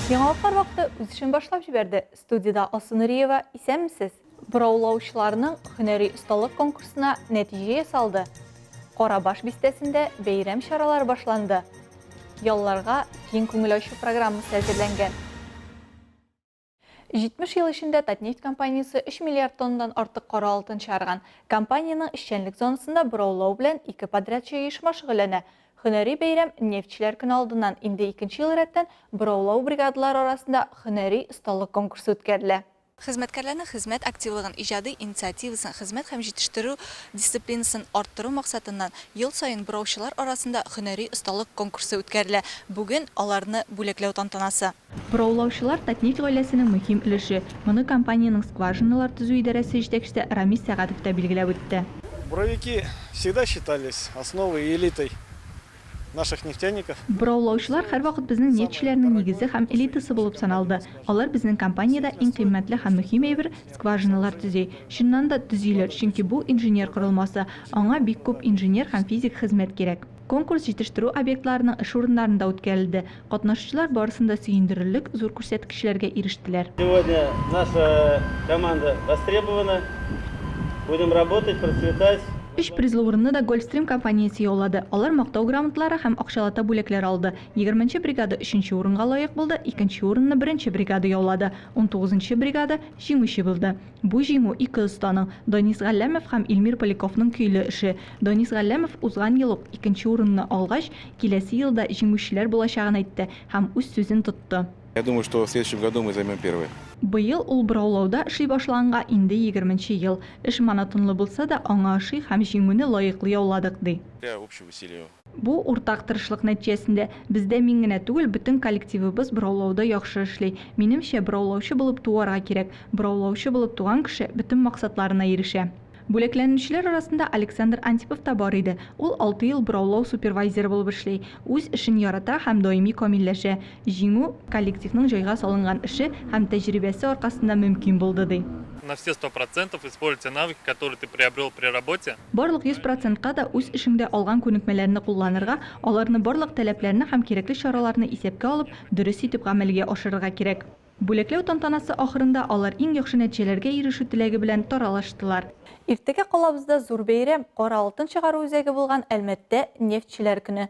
Яңалыклар вакыты үз эшен башлап җибәрде. Студиядә Алсу Нуриева. Исәнмесез! Бораулаучыларның һөнәри осталык конкурсына нәтиҗә ясалды, Карабаш бистәсендә бәйрәм чаралары башланды, ялларга киң күңел ачу программасы әзерләнгән. 70 ел эчендә Татнефть компаниясе 3 миллиард тоннадан артык кара алтын чыгарган. Компаниянең эшчәнлек зонасында бораулау белән ике подрядчы оешма шөгыльләнә. Һөнәри бәйрәм Нефтьчеләр көне алдыннан инде икенче ел рәттән бораулау бригадалары арасында һөнәри осталык конкурсы үткәрелә. Хезмәткәрләрнең хезмәт активлыгын, иҗади инициативасын, хезмәт һәм җитештерү дисциплинасын арттыру максатыннан, ел саен бураучылар арасында һөнәри осталык конкурсы үткәрелә. Бүген, аларны бүләкләү тантанасы. Бораулаучылар, Татнефть гаиләсенең мөһим өлеше. Моны компаниянең скважиналар төзү идарәсе җитәкчесе Рамис Сәгатов та билгеләп үтте. Буровики всегда считались основой и элитой наших нефтяников. Бораулаучылар һәрвакыт безнең нефтьчеләрнең нигезе һәм элитасы булып саналды. Алар безнең компаниядә иң кыйммәтле һәм мөһим әйбер, скважиналар төзи. Чыннан да, төзиләр, чөнки бу, инженер корылмасы, аңа бик күп инженер һәм физик хезмәт кирәк. Конкурс җитештерү объектларының эш урыннарында үткәрелде. Катнашучылар барысын да сөендерерлек зур күрсәткечләргә ирештеләр. Сегодня наша команда востребована, будем работать, процветать. Өч призлы урынны да Гольфстрим компаниясе яулады. Алар мактау грамоталары һәм акчалата бүләкләр алды. Егерменче бригада өченче урынга лаек булды, икенче урынны беренче бригада яулады, унтугызынчы бригада җиңүче булды. Бу җиңү ике останың, Данис Галләмов һәм Илмир Поляковның көйле эше. Данис Галләмов узган ел ук икенче урынны алгач, киләсе елда җиңүчеләр булачагын әйтте һәм үз сүзен тотты. Я думаю, что в следующем году мы займем первое. Быел ул бораулауда эшли башлаганга инде егерменче ел. Эш монотонлы булса да, аңа ошый һәм җиңүне лаеклы яуладык, ди. Для общего веселья Бу, уртак тырышлык нәтиҗәсендә. Бездә мин генә түгел, бөтен коллективыбыз бораулауда яхшы эшли. Минемчә, бораулаучы булып туарга кирәк. Бораулаучы булып туган кеше бөтен максатларына ирешә. Бүләкләнүчеләр арасында Александр Антипов та бар иде. Ул алты ел бораулау супервайзеры булып эшли. Үз эшен ярата һәм даими камилләшә. Җиңү, коллективның җайга салынган эше һәм тәҗрибәсе аркасында мөмкин булды, ди. На все сто процентов используй те навыки, которые ты приобрел при работе. Барлык йөз процентка да үз эшеңдә алган күнекмәләрне кулланырга, аларны барлык таләпләрне һәм кирәкле чараларны исәпкә алып, дөрес итеп гамәлгә ашырырга кирәк. Бүләкләү тантанасы ахырында алар иң яхшы нәтиҗәләргә ирешү теләге белән таралыштылар. Иртәгә калабызда зур бәйрәм, кара алтын чыгару үзәге булган Әлмәттә Нефтьчеләр көне.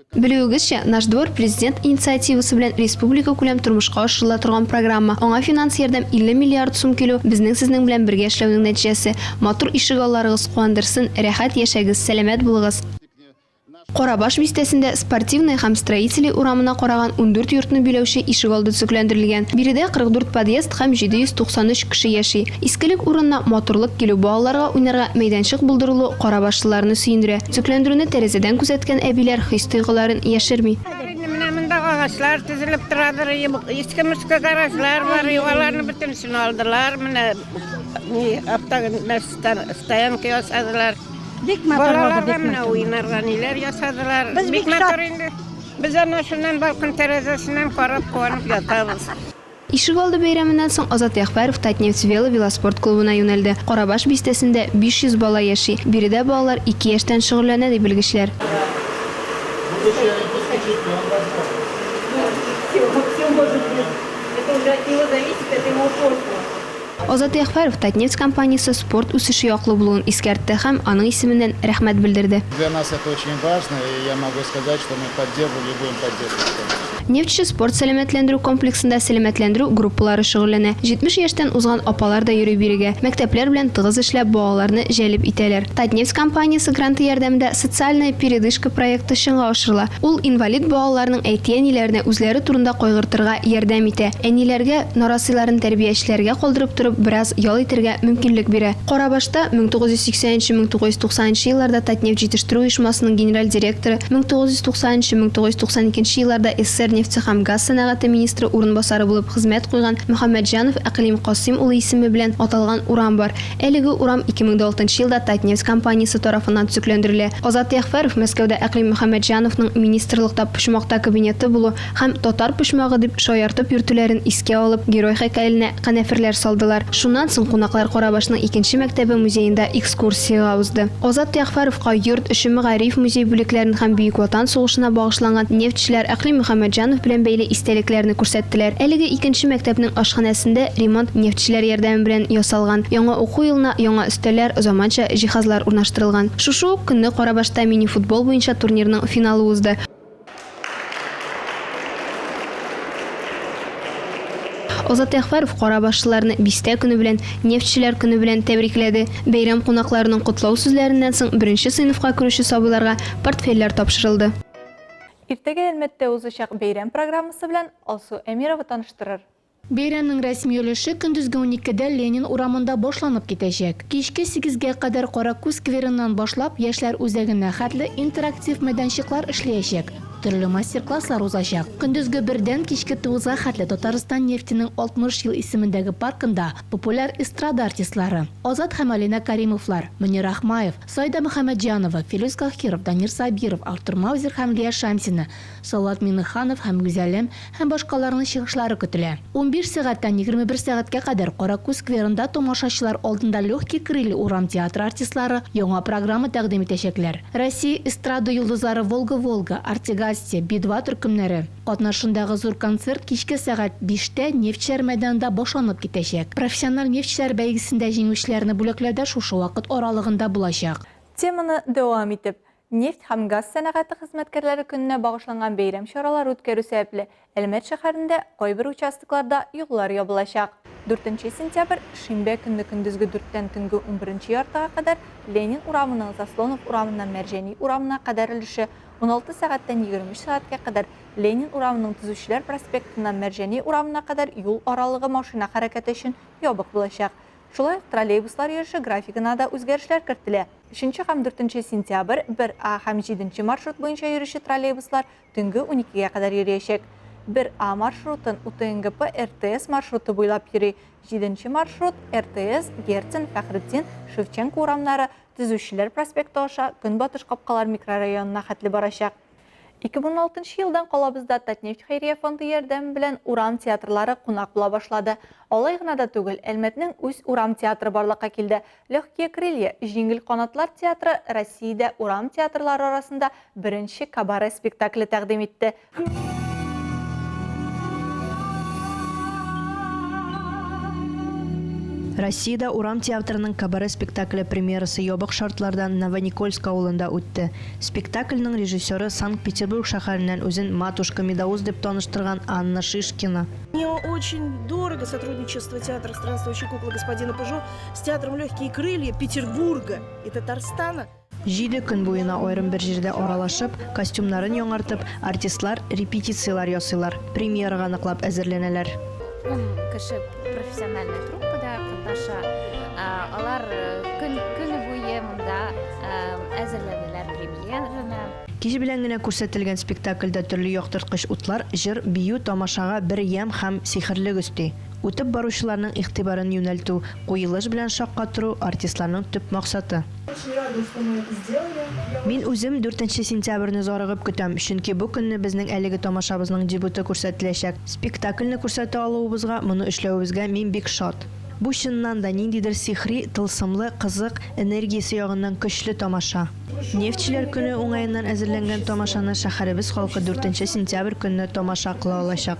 Белүегезчә, Наш двор, Президент инициативасы белән республикакүләм тормышка ашырыла торган программа. Аңа финанс ярдәм 50 миллиард сум килү, безнең сезнең белән бергә эшләүнең нәтиҗәсе. Матур ишегалларыгыз куандырсын, рәхәт яшәгез, сәламәт булыгыз! Карабаш бистәсендә Спортивная һәм Строителей урамына караган ундүрт йортны биләүче ишегалды төзекләндерелгән. Биредә 44 подъезд һәм 793 кеше яши. Искелек урынына матурлык килү, балаларга уйнарга мәйданчык булдырылу карабашлыларны сөендерә. Төзекләндерүне тәрәзәдән күзәткән әбиләр хис-тойгыларын яшерми. Инде менә монда агачлар тезелеп торадыр, иске-мөскә гаражлар бар, аларны бөтенесен алдылар, менә автостоянка ясадылар. Бик матур булды. Балаларга менә уйнарга ниләр ясадылар. Без бик матур инде. Без әнә шуннан балкон тәрәзәсеннән карап, куанып ятабыз. Ишегалды бәйрәменнән соң Азат Ягъфәров Татнефть вело-велоспорт клубына юнәлде. Карабаш бистәсендә 500 бала яши. Биредә балалар ике яшьтән шөгыльләнә, ди белгечләр. Азат Ягъфәров Татнефть компаниясе спорт үсеше яклы булуын искәртте һәм аның исеменнән рәхмәт белдерде. Для нас это очень важно, и я могу сказать, что мы поддерживали и будем поддерживать это. Нефтьче спорт-сәламәтләндерү комплексында сәламәтләндерү группалары шөгыльләнә. 70 яшьтән узган апалар да йөри бирегә. Мәктәпләр белән тыгыз эшләп, балаларны җәлеп итәләр. Татнефть компаниясе гранты ярдәмендә Социальная передышка проекты чынга ашырыла. Ул инвалид балаларның әти-әниләренә үзләре турында кайгыртырга ярдәм итә. Әниләргә, нарасыйларын тәрбиячеләргә калдырып торып, бераз ял итәргә мөмкинлек бирә. Карабашта 1980-1990 елларда Татнефть җитештерү оешмасының генераль директоры, 1990-1992 елларда СССР нефте һәм газ сәнәгате министры урынбасары булып хезмәт куйган Мөхәммәтҗанов Әкълим Касыйм улы исеме белән аталган урам бар. Әлеге урам 2006 елда Татнефть компаниясе тарафыннан төзекләндерелә. Азат Ягъфәров Мәскәүдә Әкълим Мөхәммәтҗановның министрлыкта почмакта кабинеты булу Һәм татар почмагы дип шаяртып йөртүләрен искә алып, герой һәйкәленә канәферләр салдылар. Шуннан соң кунаклар Карабашның икенче мәктәбе музеенда экскурсиягә узды. Азат Ягъфәровка йорт эче мәгариф музей бүлекләрен һәм Бөек Ватан сугышына багышланган нефтьчеләр Әкълим Мөхәммәтҗанов белән бәйле истәлекләрне күрсәттеләр. Әлеге икенче мәктәпнең ашханәсендә ремонт нефтьчеләр ярдәме белән ясалган. Яңа уку елына яңа өстәлләр, заманча җиһазлар урнаштырылган. Шушы ук көнне Карабашта мини-футбол буенча турнирның финалы узды. Азат Әхвәров кара башлыларны Бистә көне белән, Нефтьчеләр көне белән тәбрикләде. Бәйрәм кунакларының котлау сүзләреннән соң беренче сыйныфка керүче сабыйларга портфельләр тапшырылды. Иртәгә Әлмәттә узачак бәйрәм программасы белән Алсу Әмирова таныштырыр. Бәйрәмнең рәсми өлеше көндезге уникедә Ленин урамында башланып китәчәк. Кичке сигезгә кадәр Каракүз скверыннан башлап, Яшьләр үзәгенә хәтле интерактив мәйданчыклар эшлиячәк, төрле мастер-класслар узачак. Көндезге бердән кичке тугызга хәтле Татарстан нефтенең 60 ел исемендәге паркында популяр эстрада артистлары, Азат һәм Алинә Кәримовлар, Мөнир Ахмаев, Саида Мөхәммәтҗанова, Филүс Каһиров, Данир Сабиров, Артур Маузер һәм Лия Шамсина, Салават Миңнеханов һәм Гүзәлем һәм башкаларның чыгышлары көтелә. Унбиш сәгатьтән егерме бер сәгатькә кадәр Каракүз скверында тамашачылар алдында Легкие крылья урам театры артистлары яңа программа тәкъдим итәчәкләр. Россия эстрада йолдызлары Волга Волга, Артигасия, Би-2 төркемнәре катнашындагы зур концерт кичке сәгать биштә Нефтьчеләр мәйданында башланып китәчәк. Профессиональ нефтьчеләр бәйгесендә җиңүчеләрне бүләкләү дә шушы вакыт аралыгында булачак. Теманы дәвам итеп, Нефть һәм газ сәнәгате хезмәткәрләре көненә багышланган бәйрәм чаралары үткәрү сәбәпле, Әлмәт шәһәрендә кайбер участокларда юллар ябылачак. Дүртенче сентябрь, шимбә көнне көндезге дүрттән төнге унберенче яртыга кадәр Ленин урамының Заслонов урамыннан Мәрҗани урамына кадәр өлеше, уналты сәгатьтән егерме өч сәгатькә кадәр Ленин урамының Төзүчеләр проспектыннан Мәрҗани урамына кадәр юл аралыгы машина хәрәкәте өчен ябык булачак. Шулай ук троллейбуслар йөреше графигына да үзгәрешләр кертелә. Өченче һәм дүртенче сентябрь, 1 А һәм 7 нче маршрут буенча йөрүче троллейбуслар төнге уникегә кадәр йөриячәк. 1 А маршрутын УТНГП РТС маршруты буйлап йөри, 7 нче маршрут РТС, Герцен, Фәхретдин, Шевченко урамнары, Төзүчеләр проспекты аша Көнбатыш Капкалар микрорайонына хәтле барачак. 2016 нчы елдан калабызда Татнефть хәйрия фонды ярдәме белән урам театрлары кунак була башлады. Алай гына да түгел, Әлмәтнең үз урам театры барлыкка килде. Легкие крылья, Җиңел канатлар театры Россиядә урам театрлары арасында беренче кабаре спектакле тәкъдим итте. Россиядә урам театрының кабаре спектакле премьерасы ябык шартларда Новоникольск авылында үтте. Спектакльнең режиссеры Санкт-Петербург шәһәреннән үзен Матушка Медаус дип таныштырган Анна Шишкина. Мне очень дорого сотрудничество театра «Странствующие куклы» господина Пыжо. С театром «Легкие крылья» Петербурга и Татарстана Җиде көн буена аерым бер җирдә аралашып, костюмнарын яңартып, артистлар репетицияләр ясыйлар, премьерага ныклап әзерләнәләр. Ун кеше профессиональная труппада катнаша. Алар көн көне буе монда әзерләнәләр премьераны. Кич белән генә күрсәтелгән спектакльдә төрле яктырткыч утлар җыр, бию, тамашага бер ямь һәм сихерлек өсти. Үтеп баручыларның игътибарын юнәлтү, куелыш белән шаккатыру, артистларның төп максаты. Мин үзем дүртенче сентябрьне зарыгып көтәм, чөнки бу көнне безнең әлеге тамашабызның дебюты күрсәтеләчәк. Спектакльне күрсәтә алуыбызга, моны эшләвебезгә мин бик шат. Бу чыннан да ниндидер сихри, тылсымлы, кызык, энергиясе ягыннан көчле тамаша. Нефтьчеләр көне уңаеннан әзерләнгән тамашаны шәһәребез халкы дүртенче сентябрь көнне тамаша кыла алачак.